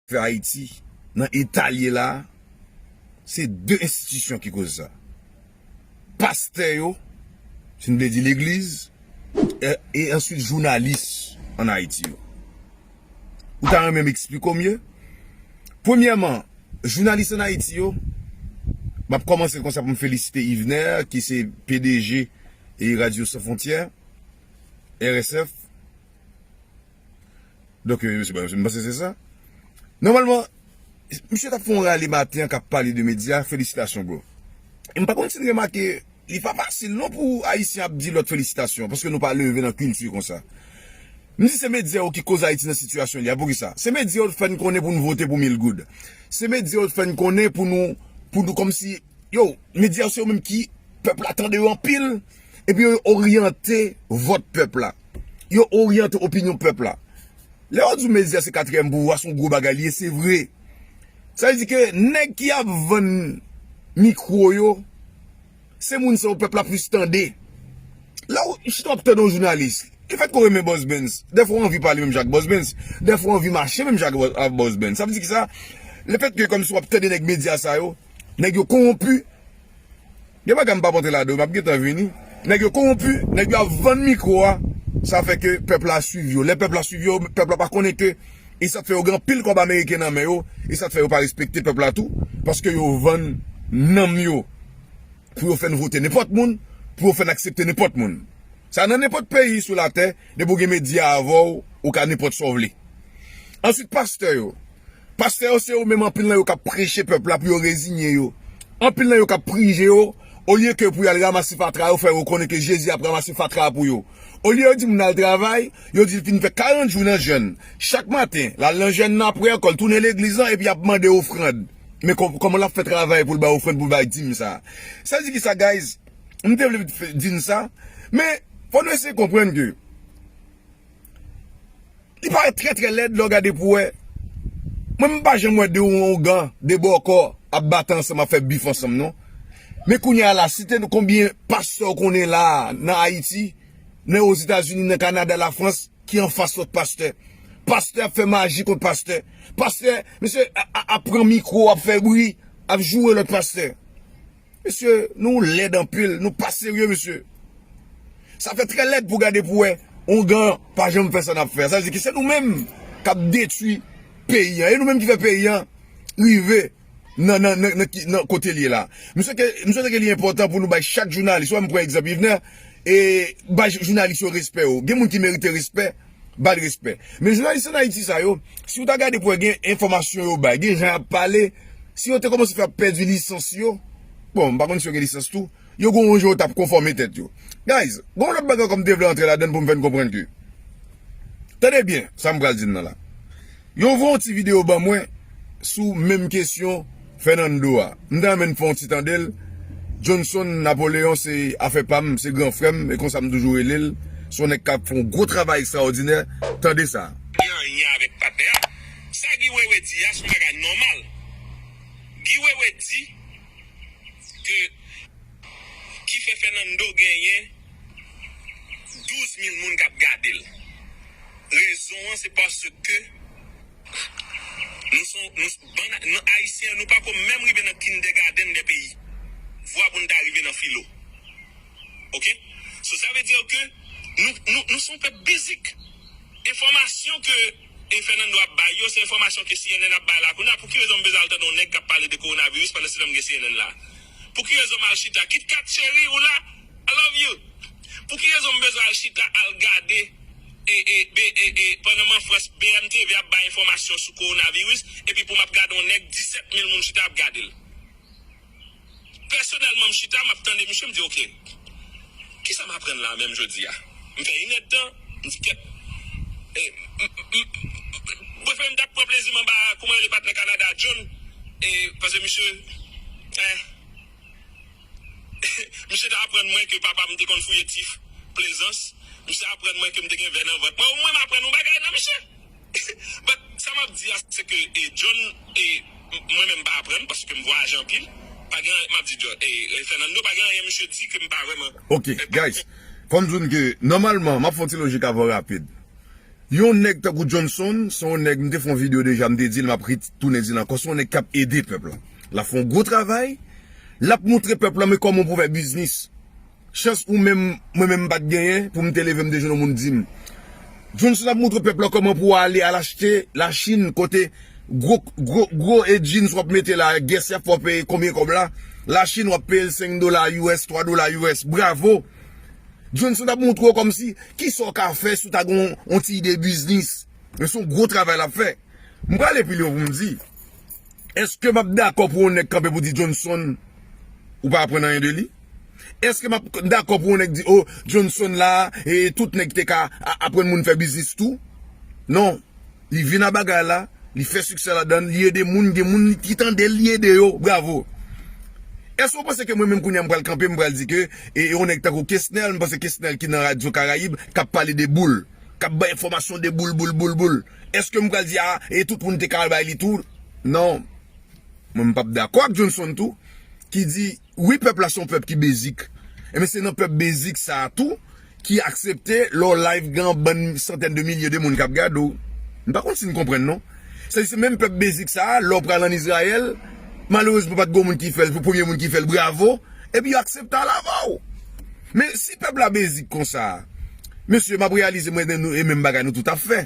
Fè Ayiti nan eta l ye la a, se de enstitisyon ki koz sa. Pastè yo, si n vle di legliz, e answit jounalis an Ayiti yo. Ou ta renmen m esplike w mye? Premyèman, jounalis an Ayiti yo, m ap kòmanse konsa pou m felisite Yvener ki se pdg e Radyo San Fwontyè, RSF, Donk, m panse se sa. Nòmalman, misye t ap fè yon rale maten an k ap pale de medya. Felisitasyon bro. E m pa konn si n remake, li pa fasil non pou Ayisyen ap di lòt felisitasyon paske nou pa leve nan kilti konsa. M di se medya yo ki koz Ayiti nan sitiyasyon li a. Poukisa? Se medya yo t fè n konnen pou n vote pou Milgoud. Se medya yo t fè n konnen pou nou, pou nou kòmsi. Yo, medya yo se yo menm ki pèp la tande yo anpil epi yo oryante vòt pèp la. Yo oryante opinyon pèp la. Lè yo di w medya se katriyèm pouvwa, se yon gwo bagay li ye, se vre. Sa vle di ke nèg ki ap vann mikwo yo, se moun sa yo pèp la plis tande. Lè w chita w ap tande yon jounalis, ki fèt ke w renmen Bòsbens, dèfwa w anvi pale menm jan ak Bòsbens, dèfwa w anvi mache menm jan ak Bòsbens. Sa vle di ki sa? Lefètke kòmsi w ap tande nèg medya sa yo, Nèg yo konwonpu Gen bagay m pap antre ladan yo map gentan vini Nèg yo konwonpu Nèg yo ap vann mikro a Sa fè ke pèp la swiv yo Lè pèp la swiv yo Pèp la pa konnen ke E sa k fè yo gen anpil kòb ameriken nan men yo E sa k fè yo pa respekte pèp la tou Paske yo vann nanm yo Pou yo fè n vote nenpòt moun Pou yo fè n aksepte nenpòt moun. Sa nan nenpòt peyi sou latè, depi ou gen medya avè w, ou ka nenpòt sa w vle. Answit pastè yo, pastè yo se yo menm anpil nan yo kap preche pèp la pou yo rezinye yo. Anpil nan yo kap prije yo, olye ke pou y al ramase fatra yo fè yo konnen ke Jezi ap ramase fatra a pou yo. Olye yo di moun al travay, yo di l fin fè 40 jou nan jèn. Chak maten, l al nan jèn nan aprè kò l tounen legliz lan epi ap mande ofrand. Men kòman l ap fè travay pou l bay ofrand pou l bay dim sa. Sa di kisa guys? M te vle di n sa. Men, fò nou eseye konprann ke li parèt trè trè lèd lè w gade pou w wè. Mwen m pa janm wè 2 ougan, 2 bòkò ap bat ansanm, ap fè bif ansanm non. Men kounye a la, site nou konbyen pastè w konnen la a nan Ayiti, nan Ozetazini, nan Kanada, Lafrans ki anfas lòt pastè. Pastè ap fè maji kont pastè. Pastè, misye ap pran mikwo, ap fè bri, ap joure lòt pastè. Mesye nou lèd anpil nou pa serye mesye sa fè trè lèd pou gade pou wè ongan pa janm fè sa nap fè sa vle di ki se nou menm kap detwi peyi an e nou menm ki fè peyi an rive nan kotel ye la m swete ke li enpòtan pou nou bay chak jounalis wè m pran egzanp yvner e bay jounalis yo respè yo gen moun ki merite respè. Bal respè. Men jounalis an Ayiti sa yo, si ou ta gade pou wè gen enfòmasyon yo bay, gen jan y ap pale, si yo te kòmanse fè ap pèdi lisans yo, bon m pa konn si yo gen lisans tou, yo gon yon jan yo t ap konfòme tèt yo. Guys, gon yon lòt bagay ankò m te vle antre ladann pou m fè n konprann ke, tande byen sa m pral di n nan la. Yo voye yon ti video ban mwen sou menm kesyon Fernando a. M ta renmen n fè yon ti tande l. Johnson Napoleon se afè pa m, se gran frè m, e konsa m toujou rele l. Se yon nèg k ap fè yon gwo travay ekstraòdinè. Tande sa. Gen anyen avèk patnè a. Sa Guy Wewe di a son bagay nòmal. Guy Wewe di ke ki fè Fernando genyen 12 mil moun k ap gade l. Rezon an se paske nou son bann nou ayisyen nou pako menm rive nan kindègadenn dè peyi vwa pou nou ta rive nan filo ok so sa vle dir ke nou nou son pèp bizik enfòmasyon ke e Fernando ap bay yo se enfòmasyon ke cnn ap bay la kounya pouki rezon m bezwen al tande yon nèg kap pale de kowonaviris pandan se nan m gen cnn la. Pou ki rezon m al chita KitKat cheri ou la I love you Pou ki rezon m bezwen al chita al gade pandan m an Frans BMTV ap bay enfòmasyon sou kowonaviris epi pou m ap gade yon nèg 17 mil moun chita ap gade l Pèsonèlman m chita m ap tande misye m di ok. Kisa m aprann la a menm jodi a? M fè inèd tan, m di kèt, e, m, m, bwefè m t ap pran plezi m anba, kouman rele patnè Kanada a, John, e, pase misye, e, misye te aprann mwen ke papa m te konn fouye tif, Plaisance, misye aprann mwen ke m te gen vè nan vant mwen, ou mwen m aprann yon bagay nan misye! But sa map di a se ke John e mwen menm m pa aprann paske m vwayaje anpil pa gen anyen map di John e Fernando pa gen anyen misye di ke m pa vreman Ok guys fòm diw n ke nòmalman map fè yon ti lojik avan rapid yon nèg tankou Johnson se yon nèg m te fè yon video deja m te dil map re tounen dil ankò se yon nèg kap ede pèp la lap fè yon gwo travay lap moutre pèp la men kòman pou fè biznis. Chans ou menm mwen menm m pat genyen pou m te leve m te jwenn yon moun di m Johnson ap moutre pèp la kòman pou w ale al achte Lachin kote gwo gwo gwo e jeans w ap mete la gès y ap fè w peye konbyen kòb la Lachin w ap peye l 5 dola us 3 dola us bravo Johnson t ap moutre w kòmsi ki sa w ka fè si w ta gen yon ti ide biznis men se yon gwo travay l ap fè M prale pi lwen pou m di èske m ap dakò pou yon nèg kanpe pou di Johnson ou pa aprann anyen de li? Eske map k dakò pou yon nèg di oh Johnson la e tout nèg te ka aprann moun fè biznis tou? Non, li vin a bagay la, li fè siksè ladann, li ede moun, gen moun ki tandel li ede yo, bravo. Eske ou panse ke mwen menm kounya m pral kanpe m pral di ke e yon nèg tankou Kesnel, m panse Kesnel ki nan radyo Karayib kap pale de boul, kap bay enfòmasyon de boul boul boul boul, eske m pral di a e tout moun te ka al bay li tou? Non. Mwen m pap dakò ak Johnson tou ki di. Wi pèp la son pèp ki bezik. Ebyen se nan pèp bezik sa tou ki aksepte lè w live gen yon bann santèn de milye de moun kap gade w. M pa konn si n konprann non. Sa di se menm pèp bezik sa a lè w pral an Izrayèl, malerezman pat gen yon moun ki fè l, se w premye moun ki fè l, bravo, epi yo aksepte al avè w. Men si pèp la bezik konsa, mesye map reyalize mwen e nou e menm bagay nou tout ap fè.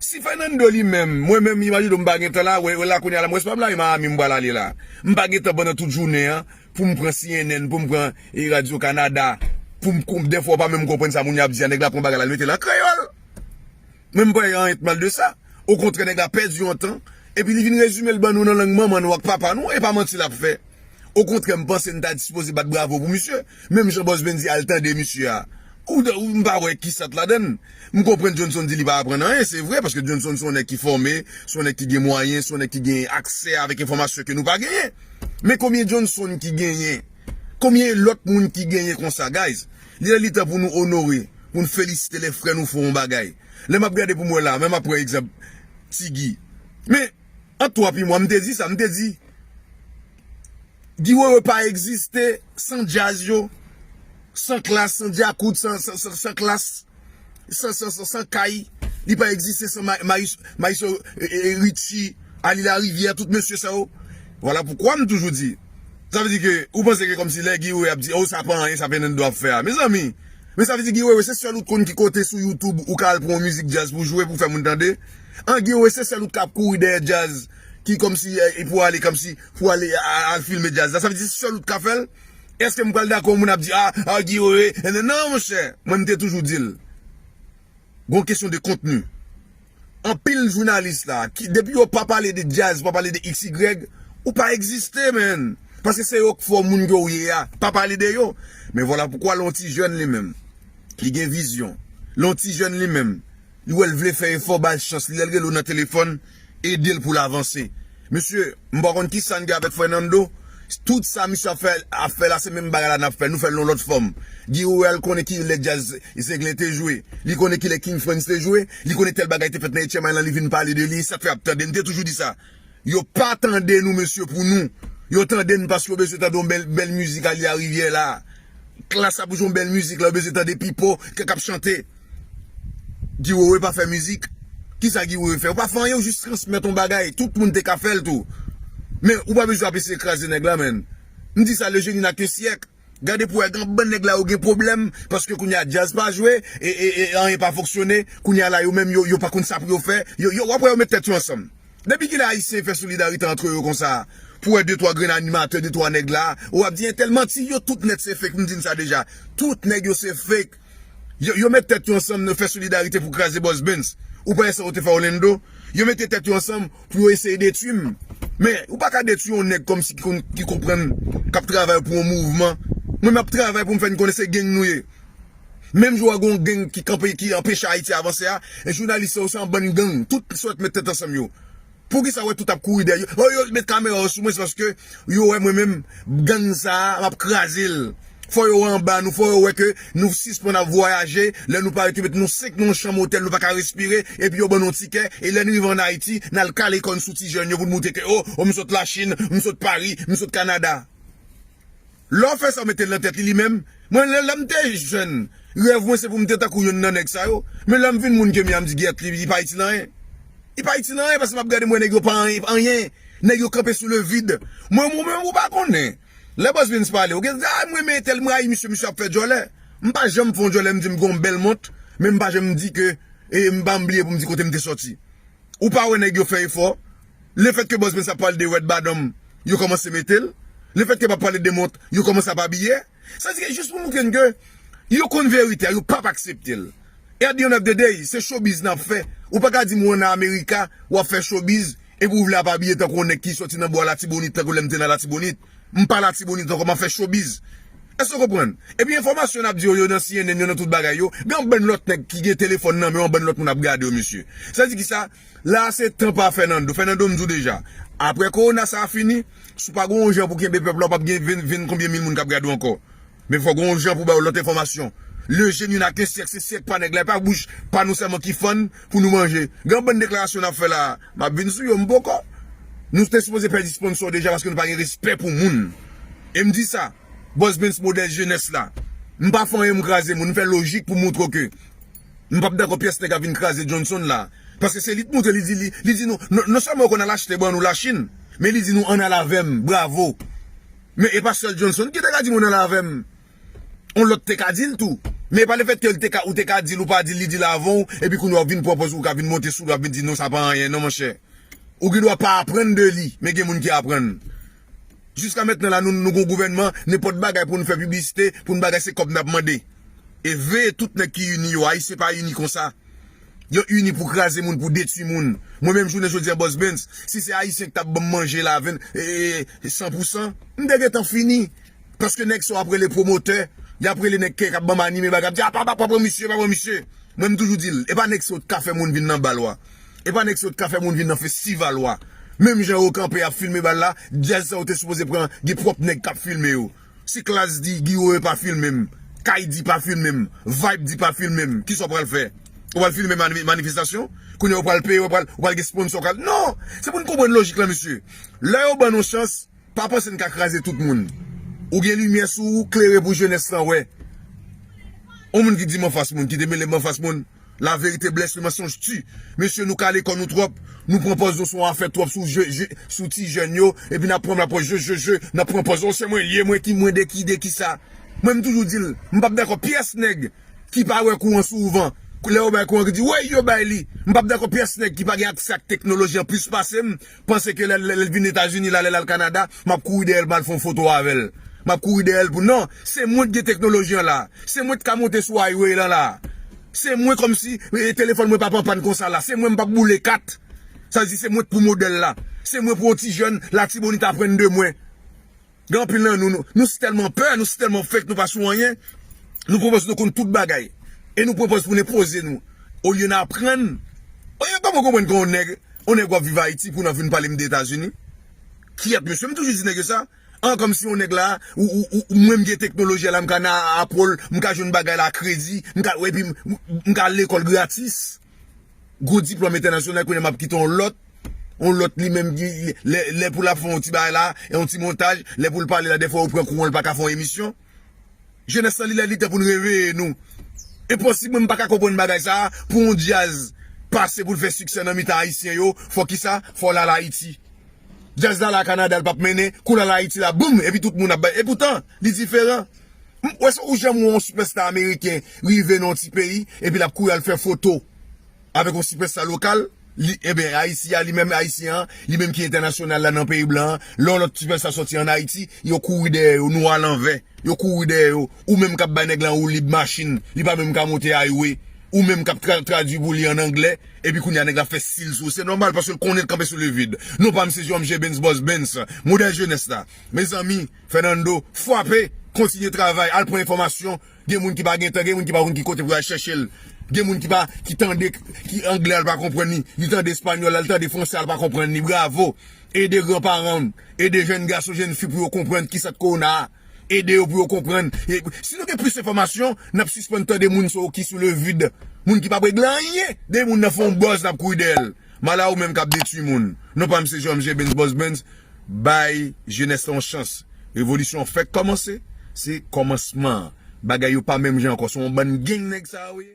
Si Fernando li menm, mwen menm imagine m pa gentan la, wè la kounya la m wè se pa blayi Miami m pral ale la. M pa gentan pandan tout jounen an pou m pran cnn, pou m pran Radio Canada, pou m kon dèfwa ou pa menm konprann sa moun yo ap di a, nèg la pran bagay la li mete l an kreyòl. Men m pa wè anyen t mal de sa. Okontrè nèg la pèdi yon tan, epi li vin rezime l ban nou nan lang manman nou ak papa nou, e pa manti l ap fè. Okontrè m panse n ta dispoze bat bravo pou misye. Menm jan Bòs Ben di al tande misye a. Ou dan ou m pa wè ki sant ladan l. M konprann Johnson di li pa aprann anyen, se vre paske Johnson se yon nèg ki fòme, se yon nèg ki gen mwayen, se yon nèg ki gen aksè avèk enfòmasyon ke nou pa genyen. Men konbyen Johnson ki genyen? Konbyen lòt moun ki genyen konsa guys? Li lè li tan pou nou onore, pou n felisite lè frè nou fè yon bagay. Lè m ap gade pou m wè la, menm m ap pran egzanp Ti Guy. Men. Ant 3 pi mwa m te di sa, m te di Guy Wewe pa egziste san djaz yo, san klass, san djakout, san klass, san kay, li pa egziste san maestro Richie, Aly Lariviere, tout mesye sa yo. Vwala poukwa m toujou di, sa vle di ke ou panse ke kòmsi lè Guy Wewe ap di oh sa pa anyen sa Fernando ap fè a. Mezanmi, men sa vle di Guy Wewe se sèl ou t konn ki kote sou YouTube ou ka al pran yon mizik djaz pou jwe pou fè moun tande? An gen we se sel ou kap kouri dèyè djaz ki komsi pou ale komsi pou ale al filme djaz la sa vle di se sel ou t ka fèl eske m pral dakò moun ap di a a Guy wewe nan nan monchè mwen m te toujou dil gon kesyon de kontni anpil jounalis la ki depi yo pa pale de djaz pa pale de xy ou pa egziste menn paske se yo k fè w moun ke w ye a pa pale de yo men vwala poukwa lè yon ti jèn li menm li gen vizyon lè yon ti jèn li menm. Li wèl vle fè efò bal chans li lèl relew nan telefòn edel poul avanse mesye m pa konn kisa n gen avèk Fernando tout sa misye ap fè ap fè la se menm bagay la nap fè nou fèl nan lòt fòm Guiro real konnen kilè djaz zenglen te jwe li konnen kilè king frantz te jwe li konnen tèl bagay te fèt nan etchèmay lan li vin pale de li sak fè ap tande m te toujou di sa. Yo pa tande nou mesye pou nou Yo tande n paske yo bezwen tande yon bèl bèl mizik Alia Rivière la Klass ap jwe yon bèl mizik la yo bezwen tande Pipo ke kap chante Guy Wewe pa fè mizik Kisa Guy Wewe fè ou pa fè anyen ou jis transmèt yon bagay tout moun te ka fèl tou men ou pa bezwen ap eseye kraze nèg la menn m di sa le jeune il n'a qu'un siècle. Gade pou wè gan bann nèg la yo gen pwoblèm paske kounye a djaz pa jwe e anyen pa fonksyone kounye a la yo menm yo pa konn sa pou yo fè yo wap wè yo met tèt yo ansanm depi kilè ayisyen fè solidarite antre yo konsa pou wè de twa grenn animatè de twa nèg la wap di entèl manti yo tout nèt se fake m di n sa deja tout nèg yo se fake. Yo met tèt yo ansanm nan fè solidarite pou kraze Boss Bens. Ou pa wè sa yo te fè Orlando? Yo mete tèt yo ansanm pou yo eseye detwi m. Men, ou pa ka detwi yon nèg kòmsi ki konn, ki konprann, k ap travay pou yon mouvman. Mwen m ap travay pou m fè n konnen se geng nou ye. Menm jan w wè gen yon geng ki kanpe, ki anpeche Ayiti avanse a, jounalis sa yo se yon bann geng. Tout sòt met tèt ansanm yo. Poukisa wè tout ap kouri dèyè yo oh yo met kamera yo sou mwen se paske yo wè mwen menm gang sa map kraze l fò yo wè anba nou fò yo wè ke nou sispann ap vwayaje lè nou pare twouve nou sek nan yon chanm otèl nou paka respire epi yo ban nou yon tikè e lè nou rive an ayiti nal kale kò n sou ti jèn yo pou n moutre ke oh m sot la chine m sot paris m sot canada. Lè w fè sa w mete l nan tèt li li menm. Mwen lè m te jèn, rèv mwen se pou m te tankou youn nan nèg sa yo. Men lè m vin moun ke m ye a m di gyèt li pa itil anyen. Li pa itil anyen paske m ap gade m wè nèg yo pa anyen. Nèg yo kanpe sou le vide. Mwen ou menm ou pa konnen. Lè Bosvens pale ou gen a m renmen entèl m rayi misye misye ap fè djòlè. M pa janm fè yon djòlè m di m gen yon bèl mont men m pa janm di ke e m pa janm bliye pou m di kote m te soti. Ou pa wè nèg yo fè efò. Le fèt ke Bòz Prince ap pale de Red Badam, yo kòmanse mete l. Le fèt ke l ap pale de mont, yo kòmanse ap abiye. Sa di ke jis pou moutre n ke yo konn verite a, yo pap aksepte l. At the end of the day, se showbiz n ap fè. Ou pa ka di m ou nan America, w ap fè showbiz, epi ou vle ap abiye tankou yon nèg ki sòti nan bò Latibonit, tankou lè m te nan Latibonit. M pa Latibonit ankò, m ap fè showbiz. Èske w konprann? Epi enfòmasyon n ap di yo, yo nan cnn, yo nan tout bagay yo, gen yon bann lòt nèg ki gen telefòn nan men yo, yon bann lòt moun ap gade yo mesye. Sa di ki sa? La a se tan pa Fernando. Fernando m di w deja, aprè kowona sa a fini, si w pa gen yon jan pou w kenbe pèp la, w p ap gen 20, 20 konbyen mil moun k ap gade w ankò. Men fòk gen yon jan pou w ba yo lòt enfòmasyon. Lejè nou nan ak yon syèk, se syèk pa nèg la, e pa bouch pa nou sèlman ki fann pou nou manje. Gen yon bann deklarasyon n ap fè la a, m ap vin sou yo, m poko. Nou te sipoze pèdi sponsò deja paske nou pa gen respè pou moun. E m di sa, Bossbens modèl jenès la. M pa fè anyen m kraze moun, m fè lojik pou montre w ke. M pap dakò pyès nèg ap vin kraze Johnson la. Paske se li t moutre li di li li di nou non sèlman yo konn al achte ban nou la chine men li di nou ann al avèm bravo men e pa sèl Johnson ki te ka di moun al avèm on lòt te ka dil tou men e pa le fèt ke l te ka ou te ka dil ou pa dil li dil avan w epi kounye a wap vin pran pòz ou ka vin monte sou li wap vin di non sa pa anyen non monchè ou gen dwa pa aprann de li men gen moun ki aprann Jiska mentnan la nou nou gon gouvènman nenpòt bagay pou nou fè piblisite pou nou bagay se kòb nap mande e veye tout nèg ki ini yo ayisyen pa ini konsa yo ini pou kraze moun pou detui moun mwen menm jounen jodi an bòs Bens si se ayisyen ki tap banm manje la 20 e 100 pousan m te gentan fini. Paske nèg sa w ap rele pwomotè, y ap rele nèg kèk ap ban m anime bagay, ap di a pa pa pran misye, pa pran misye. Mwen m toujou di l, e pa nèg sa w t ka fè moun vin nan bal w a, e pa nèg sa w t ka fè moun vin nan festival w a. Menm jan yo kanpe ap filme bal la, djaz sa yo te sipoze pran gen pwòp nèg k ap filme yo. Si klass di Giwoye pa filme m, Kay di pa filme m, Vibe di pa filme m, kisa w pral fè? Ou pral filme manifestasyon? Kounye a ou pral peye, ou pral gen sponsò k al. Non! Se pou n konprann lojik lan mesye. Lè yo ban n yon chans. Pa panse n ka kraze tout moun. Ou gen limyè sou ou, klere pou jenès lan wè. On moun ki di m anfas moun, ki te mele m anfas moun, la verite bless le mensonge tue. Mesye nou kale kò nou twòp, nou pran pòz nou son afè twòp sou je je, sou ti jèn yo, epi n ap pran m la pòz je je je, n ap pran pòz on se mwen l ye, mwen ki mwen de ki de ki sa. Mwen m toujou di l, m p ap dakò pyès nèg ki pa wè kou an souvan, lè yo bay kou an ki di woy yo bay li. M p ap dakò pyès nèg ki pa gen aksè ak teknoloji an plis pase m, panse ke lè l vin Etazini la, lè l al Kanada, m ap kouri dèyè l pou m al fè yon foto avè l. M ap kouri dèyè l pou non, se mwen ki gen teknoloji an la. Se mwen ki ka monte sou Highway lan la. Se mwen kòm si telefòn mwen pa p anpàn konsa la. Se mwen m p ap boule kat. Sa vle di se mwen k pou modèl la. Se mwen pou yon ti jèn Latibonit aprann de mwen. Gen anpil nan nou, nou si tèlman pè, nou si tèlman fake, nou pa sou anyen, nou pwopòz nou konn tout bagay. E nou pwopòz pou n enpoze nou olye n aprann. Mwen pa poko konprann kon yon nèg, yon nèg wap viv Ayiti pou nan vin pale m de Etazini. Kyèt mesye, m toujou di nèg yo sa. An kòmsi yon nèg la, ou mwen m gen teknoloji a la, m ka nan Apple, m ka jwenn bagay la a kredi, m ka epi m ka al lekòl gratis. Gwo diplòm entènasyonal kounye a map kite yon lòt, yon lòt li menm lè pou lap fè yon ti bagay la, yon ti montaj, lè poul pale la dèfwa ou pran kou an li paka fè yon emisyon. Jenès lan li lè li tan pou nou reveye nou. Enposib mwen m paka konprann bagay sa pou yon djaz pase poul fè siksè nan mitan ayisyen yo fò kisa fòl al ayiti. Djaz la la Canada li pap mennen, kou lal ayiti la boum epi tout moun ap bay epoutan li diferan. M wè sa ou janm wè yon sipèsta ameriken rive nan yon ti peyi epi lap kouri al fè foto avèk yon sipèsta lokal li enben ayisyen an li menm ayisyen an li menm ki entènasyonal la nan peyi blan an lè yon lòt sipèsta sòti an ayiti yo kouri dèyè yo nou a lanvè yo kouri dèyè yo ou menm kap bay nèg lan woulib machin li pa menm ka monte highway ou menm kap tradui pou li an anglè epi kounye a nèg la ap fè stil sou ou se nòmal paske l konnen l kanpe sou le vide non pa m se Jean Mgr Bens Bòs Bens modèl jenès la mezanmi. Fernando fwape, kontinye travay, al pran enfòmasyon, gen moun ki pa gen tan, gen moun ki pa konn ki kote pou yo al chèche l, gen moun ki pa, ki tande, ki anglè a l pa konprann li, li tande espanyòl la, li tande fransè a l pa konprann li, bravo, ede gran paran w, ede jèn gason, jèn fi pou yo konprann ki sant kowona a, ede yo pou yo konprann, si nou gen plis enfòmasyon n ap sispann tande moun ki sou le vide, moun ki pa p regle anyen, de moun nan fè yon buzz n ap kouri dèyè l. Mala ou menm kap detwi moun. Non pam se Jean MJ Benz Boss Benz bay jenès lan yon chans revolisyon an fèk kòmanse se kòmansman bagay yo pa menm jan ankò se yon bann geng nèg sa yo ye.